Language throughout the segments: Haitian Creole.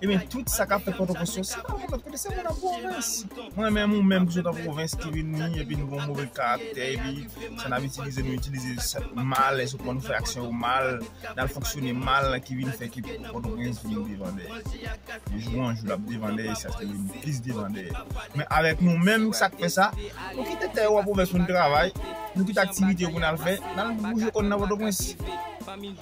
Ebyen tout sa kap fèt pòtoprens yo se pale paske se moun an pwovens mwen menm ou menm ki sot an pwovens ki vin ni epi nou gon move karaktè epi sa nap itilize nou itilize sa mal e sou kòman nou fè aksyon yo mal nal fonksyone mal ki vin fè ke pòtoprens vin debandè de jou an jou lap debandè e sa vin plis debandè men avèk nou menm sak fè sa nou kite tè yo an pwovens pou nou travay nou kite aktivite yo pou nal fè nal bouje kò nou nan pòtoprens.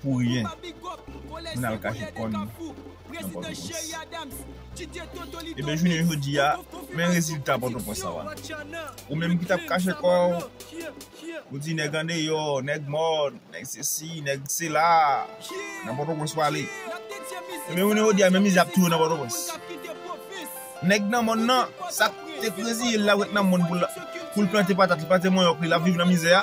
pou ryen moun al kache kò n nan pòtoprens ebyen jounen jodi a men rezilta pòtoprens sa wal ou menm ki tap kache kò w ou di nèg andeyò nèg mò nèg sesi nèg sela nan pòtoprens wale ebyen jounen jodi a men mizè ap touyè w nan pòtoprens nèg nan mòn nan sak te krezi l la wèk nan mòn pou l plante patat li plante manyòk li lap viv nan mizè a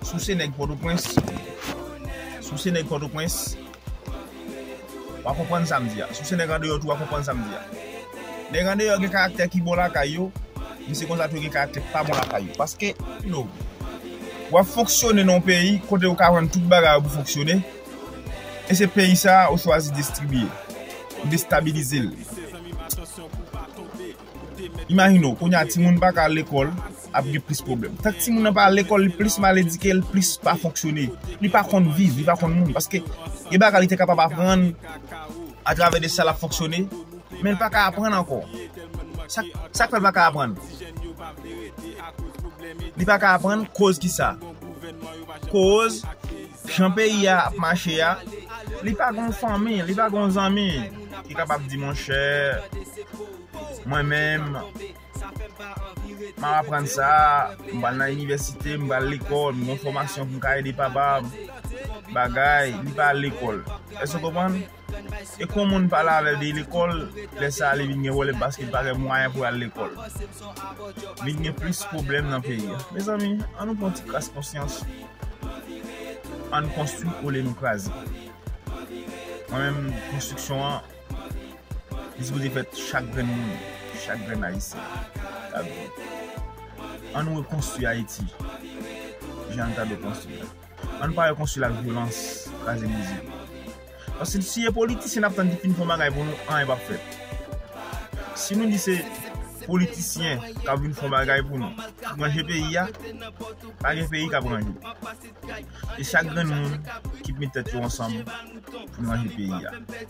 Souse nèg pòtoprens Souse nèg pòtoprens Wa konprann sa m di a Souse nèg andeyò tou wa konprann sa m di a Nèg andeyò gen karaktè ki bon lakay yo Men se konsa tou yo gen karaktè ki pa bon lakay yo Paske no Wap fonksyone nan yon peyi kote ou ka vann tout bagay ou pou fonksyone E se peyi sa ou chwazi destribiye Ou destabilize l Imajine w, kounye a timoun pa ka al lekòl, ap gen plis pwoblèm. Tank timoun nan pa al lekòl, li plis mal edike, li plis pa fonksyone. Li pa konn viv, li pa konn moun. Paske gen bagay li te kapab aprann atravè de sa l ap fonksyone, men l pa ka aprann ankò. Sa k fè l pa ka aprann? Li pa ka aprann koz ki sa? Koz. Jan peyi a ap mache a, li pa gen yon fanmi, li pa gen yon zanmi ki kapab di monchè, mwen menm, m ap aprann sa, m pral nan inivèsite, m pral lekòl, m gen yon fòmasyon pou m ka ede papa m, bagay, li pa al lekòl. Èske w konprann? E kon moun pale avèl de lekòl, lè sa li vin gen pwoblèm paske li pa gen mwayen pou al lekòl. Vin gen plis pwoblèm nan peyi a. Mezanmi, an nou pran ti kras konsyans, an nou konstwi olye nou kraze. Mwen menm, konstriksyon an, li sipoze fèt chak grenn moun, chak grenn Ayisyen k ap viv. An nou rekonstwi Ayiti, jan li ta dwe konstwi la. Ann pa wè konsil ak vyolans kraze brize. Paske si e politisyen nap tann ki fin fon bagay pou nou anyen pap fèt. Si nou di se politisyen kap vin fon bagay pou nou pou ranje peyi a, pa gen peyi kap ranje. Se chak grenn moun ki p met tèt yo ansanm pou n ranje peyi a.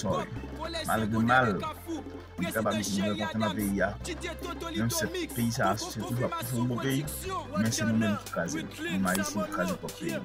Sorry. Malgre mal, li kapab vin byen kontan nan peyi a. Menm si peyi sa a se toujou ap toujou yon bon peyi, men se nou menm ki kraze l. Nou menm Ayisyen ki kraze pwòp peyi nou.